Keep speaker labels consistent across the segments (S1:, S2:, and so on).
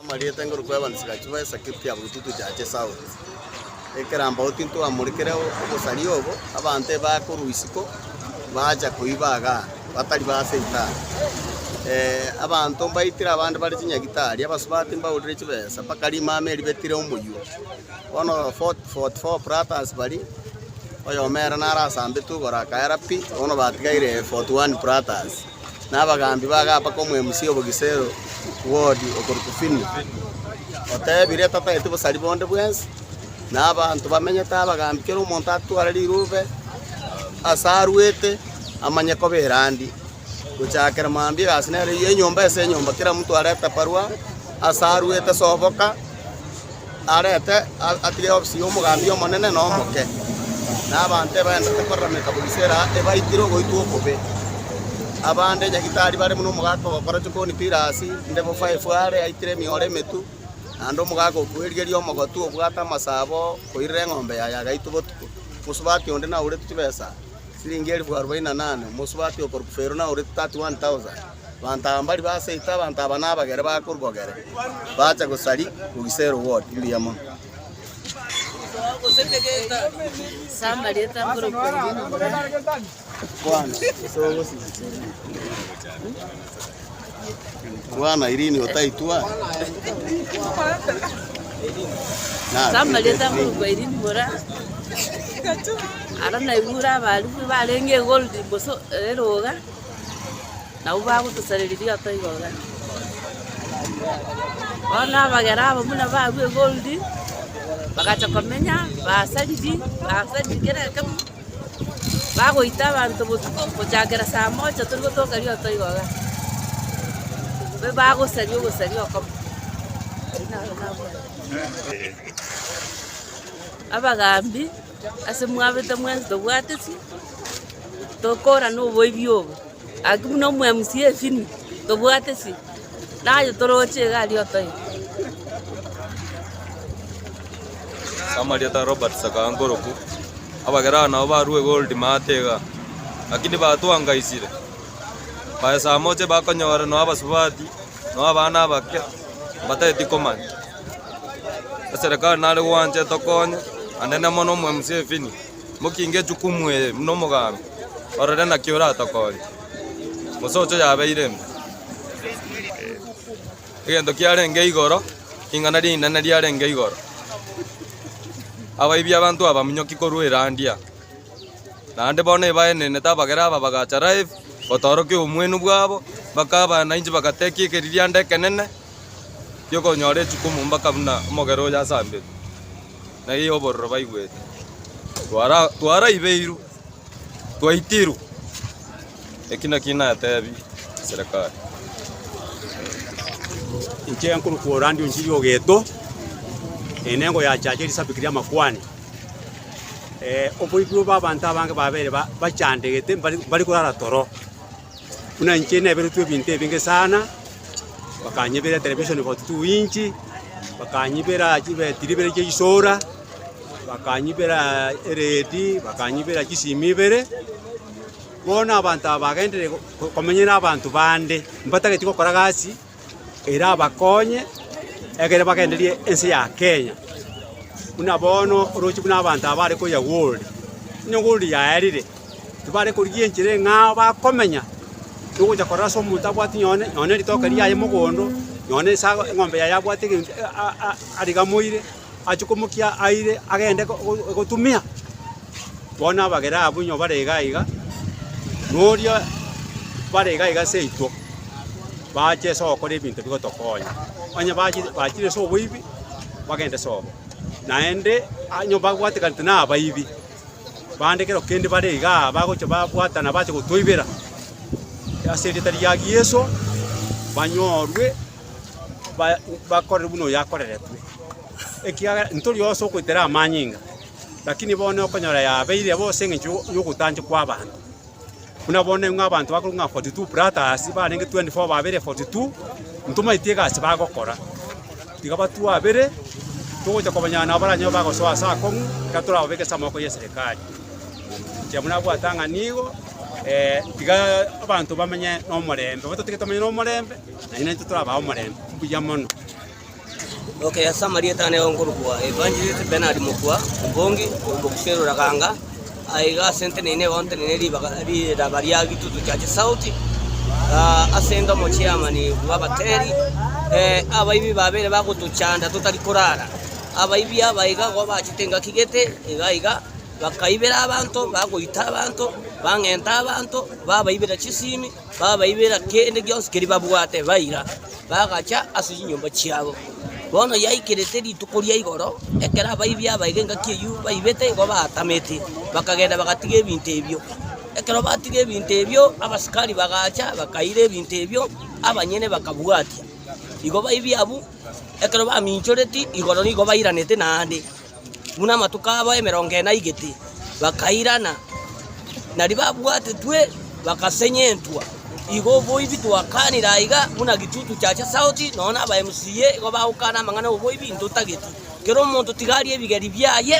S1: Amarieta ngorokwebanisa gachibo esakiri tiaburuti toche ache Saul. Ekerambago tintwamorikire obosari obo, abanto ebakorwa isiko bacha koiba iga batari base itaara. Eh, abanto mbaitire abande bare chinyagitari, abasubati mbaurire chibesa, mpaka rimama eri betire omoyio. Bono 44 platans baria, oyomo ere nare asambete ogoro akaera pi, bono batigaire 41 platans. na abagaambi bagapa komoemusia obogisero Wodi okorokwa Fini, otebire, Totageti bosari bonde bwensi, na abanto bamenyete abagambi kera omonto atware rirube ase arwete amanye koba erandi. Gochakera mambia egasi nero eyio enyomba ase enyomba kera monto arete barua ase arwete soboka, arete atige ofisi y'omogambi omonene na omoke, na abanto ebaendete korarameta buri seera ebaikire ogoitwa okobe. Abande nyagitari bare buna omogaka ogokora chikoni Tirasi, inde bofo efware yaitire emioro emetu, naende omogaka o kwerigeria omogotu obwate amasabo koirera eng'ombe yaye agaitwa botuko. Omosubati onde naurete chibesa siringi elifu arobaini na nane, omosubati okorokwa Fero naurete 31,000. Abanto aba mbari baseete, abanto aba nabagere bakorwa gere, bacha gosari kogisa erogori. Mbuya mono. Kwana, gose
S2: ogosibisa
S1: eriogi. Kwana, irini otaitwa? Samarieta
S2: ngurukwa irini mora ara naigure abarimu barenge egold boso eroga nabwo bagotosareria rioto igoro iga. Bono abagera abo buna babu egold, bagacha komenya, basariri, basariri kera ekemo, bagoita abanto botuko gochakera saa moja tori gotoka rioto igo iga. Be bagosaria ogosaria okomo. Abwo nabwo abagaambi. Ase mwabete mwensi tobwateti, tokorana oboibi obo. Gaki buna omwemusi efini, tobwateti, naye toroche iga aria otoe.
S3: Samarieta Robert Sakaga Nkoruku, Abagerani nabo barue gold maate iga, gaki nibatwangaisire. Baesamoche bakonyora nonya abasubati, nonya abana abake, mbatageti komanya. Eserekari nare gwancha etokonye anene mono omwe museveni mokinge echukumu eye buna omogambi orore naki oratokonye gose ocho yabeire mbe egento kiarenge igoro ring'ana rinene riarenge igoro abaibi abanto abaminyoki korwa erandia naende bono ebaenenete abagere aba bagacha live gotorokia obomwenu bwabo bakabana inche bagatekia ekeririanda ekenene. ri'okonyora echukumu mbaka buna omogera oyo asamberwe, na eyio obororo baigwete. Twara- Twaraibeirwe, twaitirwe, eki nakio natebie eserekari.
S4: Inche nkorokwa Orandi Onjiri Ogeto, eye nengo ya Chacha Elisabiki Riamakwani. Oboikorwa bw'abanto abange babere ba- bachandegete mbare- mbare korara toro. Buna inche neberetwe ebinto ebinge sana, bakanyebera etelevishoni for two inch, bakanyebera chibetiri ibere chia ebisola, bakanyebera eredi, bakanyebera chisimu ibere. Bono abanto aba bagenderire ko- komenya na abanto bande, mbatageti gokora gasi. erabakonye ekero bagendereire ense ya Kenya. Buna bono orooche buna abanto aba bare koyia Gold, onye Gold yaerire, tibare korigia enchera eng'ao bakomenya, nogocha korora ase omonto abwati nonye nonye ritoke riaye mogondo, nonye esago eng'ombe yaye abwate egento a- a- a- arigamoire. achie komokia aire agende gotumia, bono abagera abwo inwe bare iga iga, na oria bare iga iga seito, baache ase ogokora ebinto bigotokonya. Onye bachire bachire ase oboibi, bagende sobo, naende onye babwateganete na abaibi, bande ekero kende bare igaa bagochia babwatana bache gotoibera, ase erieta ria Yeso, banyorwe. ba- bakorere buna oyo akoreretwe, ekiagera ntori onsi ogoetera amanyinga, lakini bono okonyora yabeire bobe ase engencho yo- yogotanchwa kw'abanto. Buna bono ng'a abanto bakorwa ng'a 42 plataas barenge 24 babere 42, intwe omanyete egasi bagokora. Tiga batwabere, togocha kobanyora nabo baranyare bagosoa ase akong'u, ekero torababeke ase amaboko y'eserekari. Inche buna nabwate ang'a nigo, tiga abanto bamenye nomorembe, bobe totagete bamenye nomorembe. na inche torabaa omorembe mbuya mono.
S5: Oke ase amarieta ane okorokwa Evangelist Bernard Mokua Ombongi omokusi Ruraganga aiga ase nteneine egonteneine ribaga riraba ria Gitutu Church South ah, ase nde omochiamani bw'abateri eh, abaibi babere bagotochanda totari korara abaibi aba iga igo bachete engaki gete iga iga bakaibera abanto bagoita abanto bang'enta abanto babaibera chisimi Babaibera kende gionsi keria babwate, baira, bagacha ase chinyomba chiabo. Bono yaikerete rituko ria igoro, ekero abaibi abaire engaki eyio baibete igo baatamete, bakagenda bagatiga ebinto ebio. Ekero batiga ebinto ebio, abasikari bagacha bakaira ebinto ebio, abanyene bakabwatia. Igo baibi abwo ekero baminchoreti igoro nigo bairanete naende. buna amatuko abo emerongo ene aigete, bakairana, na ribabwatetwe bagasenyentwa. Igo oboibi twakanire aiga buna gitutu giacha sauti, nonya na aba MCA igo bagokana amang'ana 'oboibi intotageti. Kera omonto tiga arie ebigeri biaye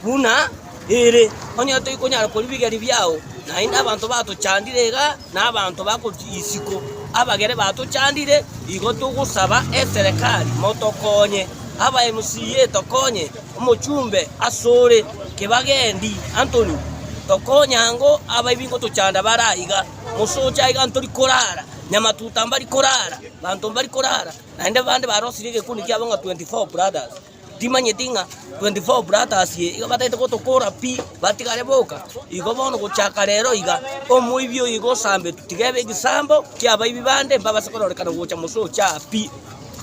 S5: buna ere, onye toikonyara koria bigeri biao, naende abanto batochandire igaa. na abanto bagochia isiko, abagere batochandire, igo togosaba eserekari motokonye, aba MCA etokonye, omochumbe asore Kibagendi Anthony tokonye ango abaibinge gotochanda bare aiga, mosoche aiga ntori korara, Nyamatuta mbari korara, banto mbari korara, naende bande barosirie egekundi kiabo ng'a 24 brothers. Timanyeti ng'a 24 Brothers eye iga batagete gotokora pi, batigare boka. Igo bono gochaka rero iga, omoibi oyo iga osambetu, tiga ebe egesaambo ki'abaibi bande, mbabase kororekana gocha mosoche aa pi.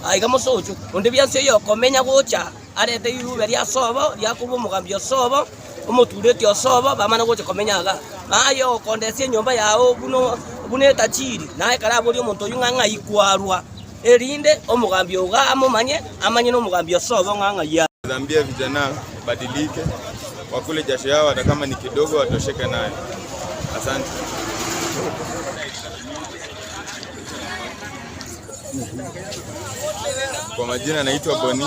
S5: Aa iga mosoche onde bwensi oyokomenya gocha arete rirube ri'asobo, riakorwa omogambi osobo, omotuureti osobo, bamana gocha komenya iga, na aye okondesia enyomba yao buna buna etachiri, naye kare aborie omonto oyio ng'a ng'ai kwarwa, erinde omogambi ogo amomanye, amanye nomogambi osobo ng'a ng'ai arwa. Dhambia vijana
S6: badilike wakule jasho yao hata kama ni kidogo watosheke nayo asante. Kwa majina naitwa Boni.